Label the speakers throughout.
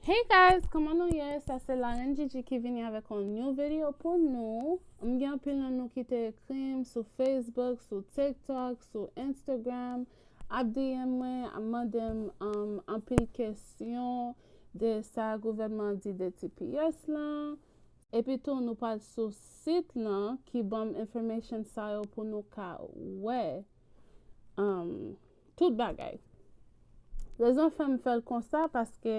Speaker 1: Hey guys, kòman nou ye? Sa se Larenn Djidji ki vini avèk yon new video pou nou. M gen anpil nan nou ki te ekri m sou Facebook, sou TikTok, sou Instagram, ap DM mwen, ap mande m um, anpil kesyon de sa gouvènman di de TPS lan. Epi tou nou pral sou sit lan ki banm information sa yo pou nou ka wè. Um, Tout bagay. Rezon fèm fèl konsa paske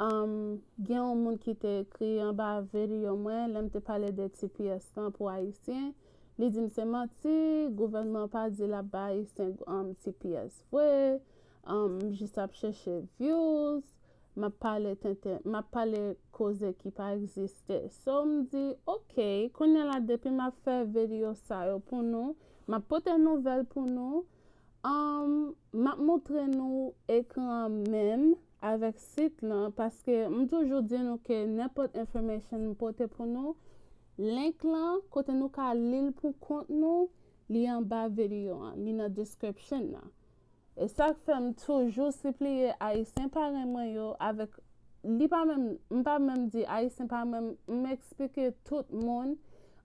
Speaker 1: um, gen yon moun ki te ekri anba video mwen lèm te pale de tps lan pou ayisyen, li dim se manti, gouvènman pa di lap ba ayisyen um, tps vre, um, m jis ap chèche views, map pale tenten, map pale koze ki pa egziste. So m di, ok, kounye la depi map fè video sa yo pou nou, map pote nouvèl pou nou, Humm map montre nou ekran menm avèk sit lan paske m toujou di nou ke nenpòt information m pote pou nou link lan kote nou ka lil pou kont nou li anba video an li nan description nan esak fèm toujou sipliye ayisyen parèy mwen yo avèk Li pa menm, m pa menm di Ayisyen pa menm, m eksplike tout moun,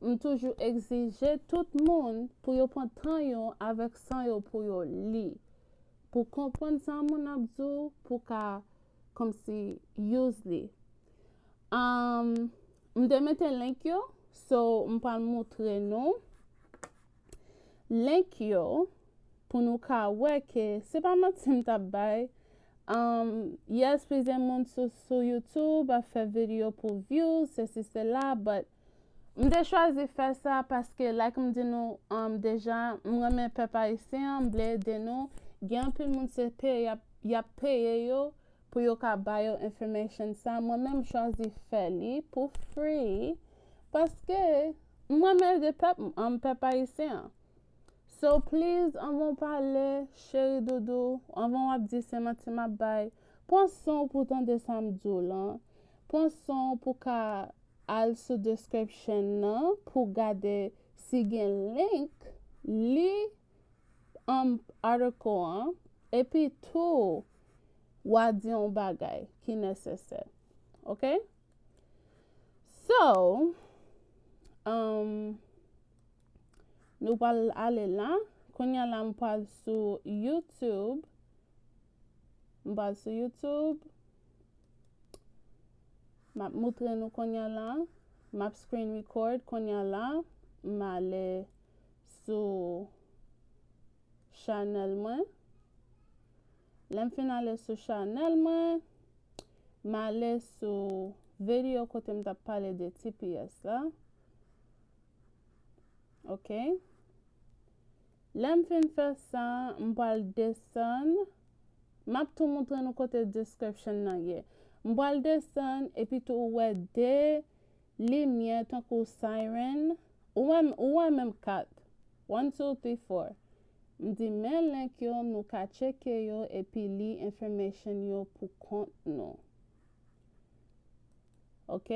Speaker 1: m toujou egzije tout moun pou yo pran tan yo avèk san yo pou yo li, pou konprann sa moun ap di w pou ka kòmsi use li. Um, m te mete link yo, so m pral moutre nou. link yo pou nou ka wè ke se pa manti m tap bay Um, yes plizyè moun sou sou YouTube ap fè video pou views, sesi sela, but m te chwazi fè sa paske like m di nou um, deja m renmen pèp ayisyen an, m vle ede nou, gen anpil moun se peye yap yap peye yo pou yo ka ba yo information sa mwen menm chwazi fè li pou free paske m renmen de pèp m an pèp ayisyen an so please anvan w pale cheri doudou anvan wap di se manti map bay pran san w pou tande sa m di w lan pran san w pou ka al sou description nan pou gade si gen link li um, atikl an, epi tou w a di yon bagay ki nesesè. Ok? So, um, nou pal ale la. Konya la m pal sou YouTube. M pal sou YouTube. Map moutre nou konya la. Map screen record konya la. M ale sou chanèl mwen lèm fin ale sou chanèl mwen male sou video kote m tap pale de tps la ok lèm fin fè sa m pal desann map tou moutre nou kote description nan ye m pal desann epi tou wè de Limyè tankou siren Ou wè m ou wè menm 4 One two three four M di men link yo nou ka tcheke yo epi li information yo pou kont nou Ok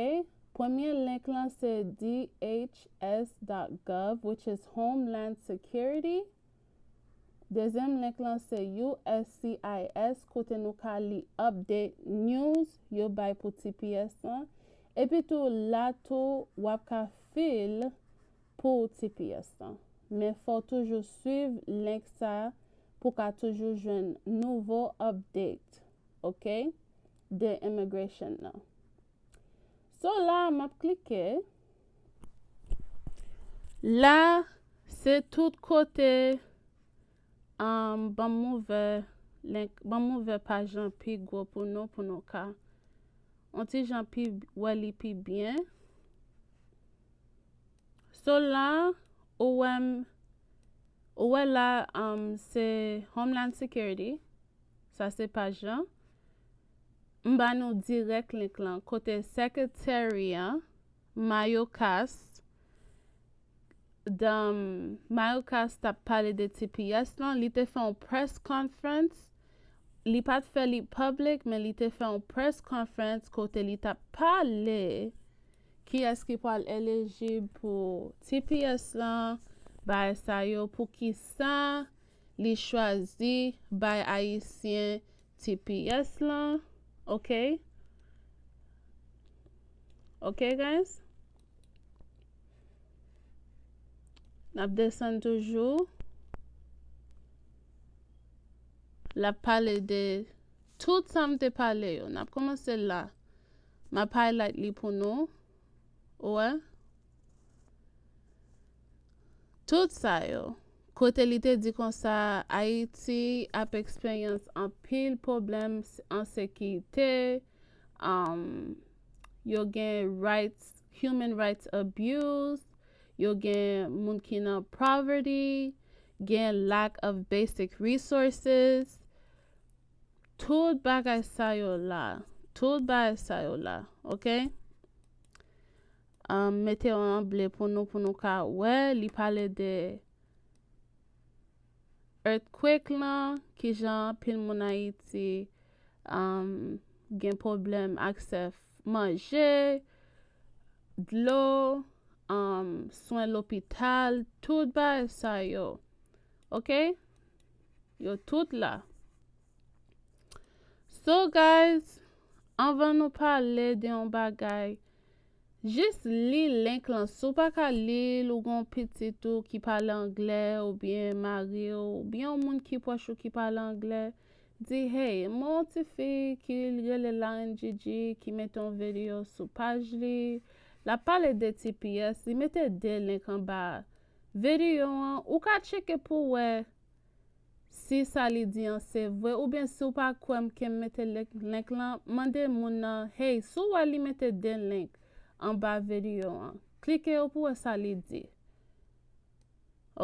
Speaker 1: Premye link lan se dhs dot gov which is homeland security Dezyèm link lan se uscis kote nou ka li update news yo bay pou tps lan epi tou la tou wap ka fil pou tps lan men fòw toujou swiv link sa pou ka toujou jwenn nouvo update ok de immigration nan so la map klike La se tout kote um, banm ouvè link, banm ouvè paj lan pi gwo pou nou pou nou ka on ti jan pi wè li pi byen. So la ou wè m, ou wè la um, se Homeland Security, sa se paj lan. M ba nou dirèk link lan kote secretary an Mayocast dan Mayocast tap pale de tps lan li te fè yon press conference li pat fè li public men li te fè yon press conference kote li tap pale kiyès ki pral elijib pou tps lan bay sa yo pou kisa li chwazi bay ayisyen tps lan ok ok guys nap desann toujou la pale de tout sa m te pale yo nap komanse la map highlight li pou nou ou wè Tout sa yo, kote li te di konsa Ayiti ap eksperyans anpil pwoblèm ensekirite, um, yo gen rights, human rights abuse, yo gen moun ki nan poverty, gen lack of basic resources, tout bagay sa yo la, tout bagay sa yo la, ok? Mete yon an ble pou nou pou nou ka wè li pale de earthquake lan kijan pil moun ayiti gen problem aksè manje dlo swen lopital tout bagay sa yo ok yo tout la. So guys, anvan nou pale de yon bagay, jis li link lan. Si w pa ka li l, ou gen yon pitit ou ki pale anglè oubyen mari w oubyen yon moun ki pwòch ou ki pale anglè, di hey, mwen yon ti fi ki rele Lauren Gigi ki mete yon videyo sou paj li, l ap pale de tps, li mete 2 link anba videyo an, ou ka tcheke pou w wè. si sa li di an se vre oubyen si w pa kwè m ke m mete link lan mande moun nan hey si w wè li mete 2 link anba vedio an klike yo pou wè sa li di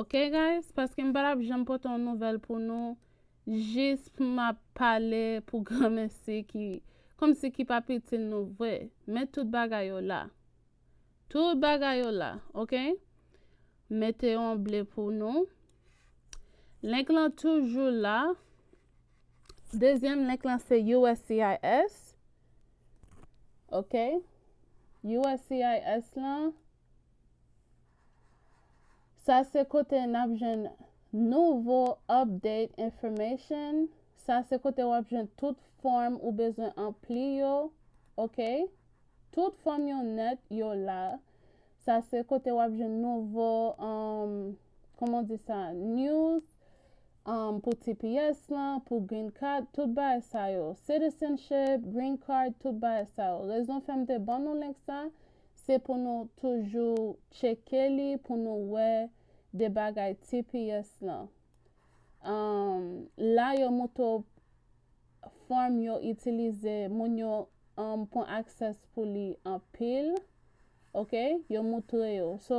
Speaker 1: ok guys paske m pa tap janm pote yon nouvèl pou nou jis pou m ap pale pou granmesi ki komsi ki pap itil nou vre men tout bagay yo la tout bagay yo la ok. Mete yon ble pou nou. Link lan toujou la. Dezyèm link lan se USCIS. Ok. USCIS lan. Sa se kote n ap jwenn nouvo update information. Sa se kote w ap jwenn tout fòm ou bezwen anpli yo. Ok. Tout fòm yo nèt yo la. Sa se kote wap jwenn nouvo um kòman w di sa news um pou tps lan, pou green card, tout bagay sa yo. Citizenship, green card, tout bagay sa yo. Rezon fè m te ban nou link sa, se pou nou toujou tcheke li pou nou wè de bagay tps lan. Um la yo moutre w form yo itilize moun yo um pwan access pou li anpil ok yo moutre yo so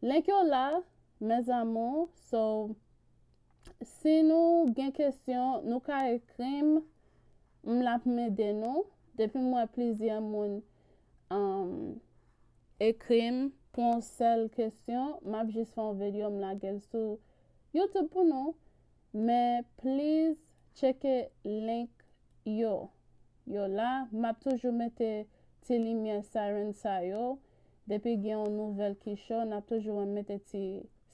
Speaker 1: link yo la mes amours so si nou gen kesyon nou ka ekrim m lap mede nou depi mwen plizyè moun um ekrim pou yon sèl kesyon map jis fon video m lagel sou YouTube pou nou Men please tcheke link yo yo la map toujou mete ti limyè siren sa yo depi gen yon nouvèl ki cho nap toujou wèm mete ti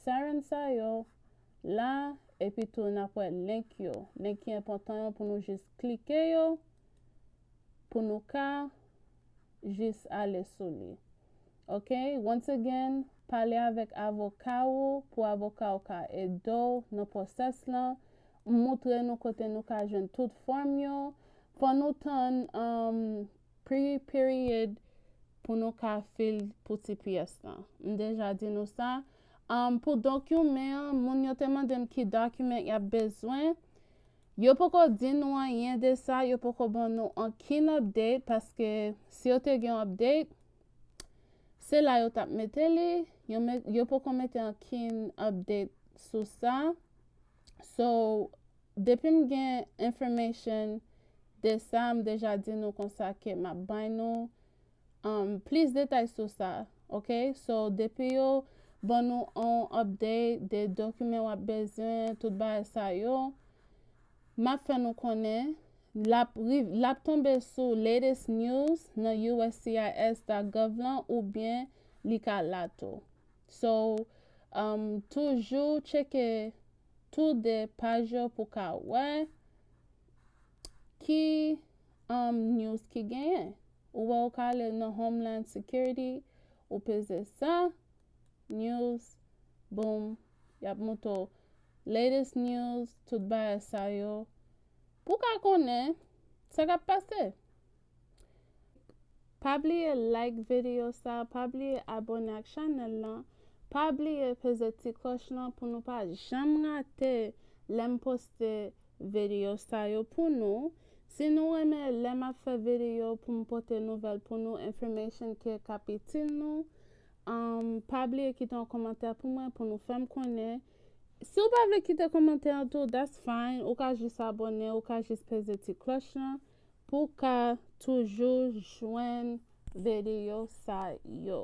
Speaker 1: siren sa yo la epi tou nap wè link yo link ki enpòtan yo pou nou jis klike yo pou nou ka jis ale sou li ok once again pale avèk avoka ou pou avoka ou ka edew nan process lan m moutre nou kote nou ka jwenn tout form yo fò nou tann um pre period pou nou ka fil pou tps lan m deja di nou sa um pou document an moun yo te mandem ki document yap bezwen Yo poko di nou anyen de sa, yo poko ban nou ankenn update paske si yo te gen update se la yo tap mete li, yo met, yo poko mete ankenn update sou sa. So, depi m gen information de sa, m deja di nou konsa ke map bay nou plis detay sou sa ok so depi yo ban nou on update de dokimen wap bezwen tout ba sa yo map fè nou konnen lap lap tonbe sou latest news nan uscis.gov lan ou byen li ka la tou so um, toujou tcheke tou de paj yo pou ka wè ki Humm news ki genyen. Ou wè ou ka ale nan Homeland Security, ou peze sa, news, boom, yap mouto latest news, tout bagay sa yo. Pou ka konnen sa kap pase. Pa bliye like video sa, pa bliye abone ak chanel lan, pa bliye peze ti kloch lan pou nou pa janm rate lèm poste video sa yo pou nou. Si nou renmen lè map fè video poum pote nouvèl pou nou information ke kap itil nou pa bliye kite yon komantè pou mwen pou nou fèm konnen Si ou pa vle kite komantè an tou that's fine ou ka jis abone ou ka jis peze ti klòch lan pou ka toujou jwenn video sa yo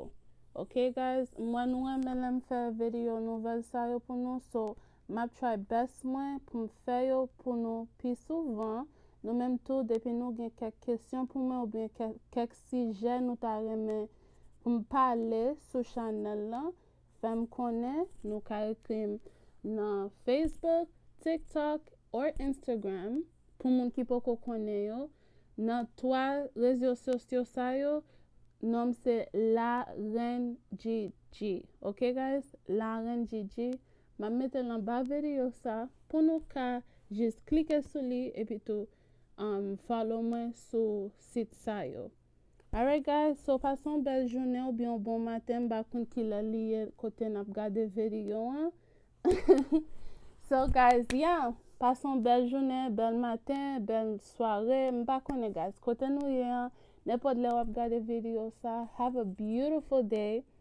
Speaker 1: ok guys m wè nou renmen lèm fè video nouvèl sa yo pou nou so Map try best mwen poum fè yo pou nou pi souvan, nou menm tou depi nou gen kèk kesyon pou mwen oubyen kèk sijè nou ta renmen poum pale sou chanèl lan fèm konnen, nou ka ekrim nan Facebook, TikTok or Instagram pou moun ki poko konnen yo, nan 3 rezyo sosyo sa yo nonm se la reine Gigi ok guys la reine Gigi Map metel anba vedio sa pou nou ka jis klike sou li epi tou um follow mwen sou sit sa yo alright guys so pase yon bèl jounen ou byen yon bon maten mpa konn kilè li ye kote nap gade vedio an so guys yeah pase yon bèl jounen bèl maten bèl sware mpa konnen guys kote nou ye an nenpòt lè wap gade vedio sa have a beautiful day.